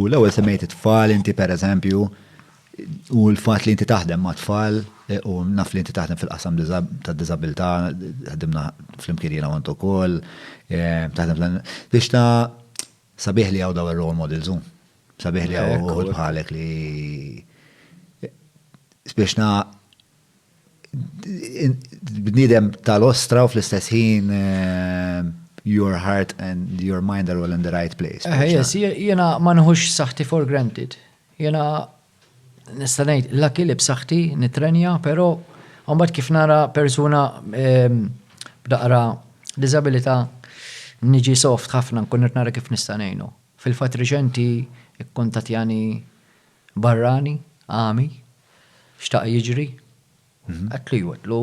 U l-ewwel semmejt it-tfal inti pereżempju, u l-fatt li inti taħdem ma' tfal, u naf li inti taħdem fil-qasam tad-diżabilità, ħdimna flimkien jiena u int ukoll, taħdem fl-. Biex ta' sabiħ li hawn dawn ir-role models hu. Sabiħ li hawn uħud bħalek li spiss bniedem tal-ostra u fl-istess ħin eh, your heart and your mind are all in the right place. Eh, yes, jena ma nħux saħti for granted. Jena nistanajt la kilib saħti nitrenja, pero għambat kif nara persuna ehm, b'daqra disabilita niġi soft ħafna nkun nara kif nistanajnu. Fil-fat reċenti ikkontatjani barrani, għami, xtaq jiġri. Għedtlu iva, għedtlu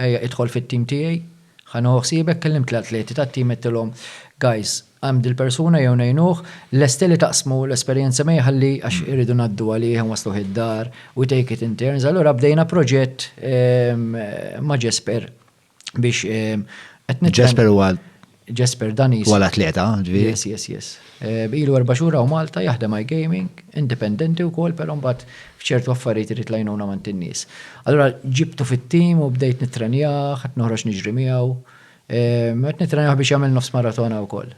ejja idħol fit-tim tiegħi, ħa nieħu ħsiebek, kellimt l-atleti tat-tim għedtilhom, guys, hemm dil-persuna jew ngħinuh, lesti li taqsmu l-esperjenza miegħi ħalli għax irridu ngħaddu għalih, inwassluh id-dar, we take it in turns, allura bdejna proġett ma' Jesper. biex qed nitlob. Jesper huwa Jesper Danis. Wala atleta, ġifieri. Yes, yes, yes. Eh, ilu erba' xhur hawn Malta jaħdem għaj gaming, indipendenti wkoll, però mbagħad f'ċertu affarijiet irid lajnuna ma' nies. Allura ġibtu fit-tim u bdejt nitrenjah, qed noħroġ niġri miegħu. Qed eh, nitrenjah biex jagħmel nofs maratona wkoll.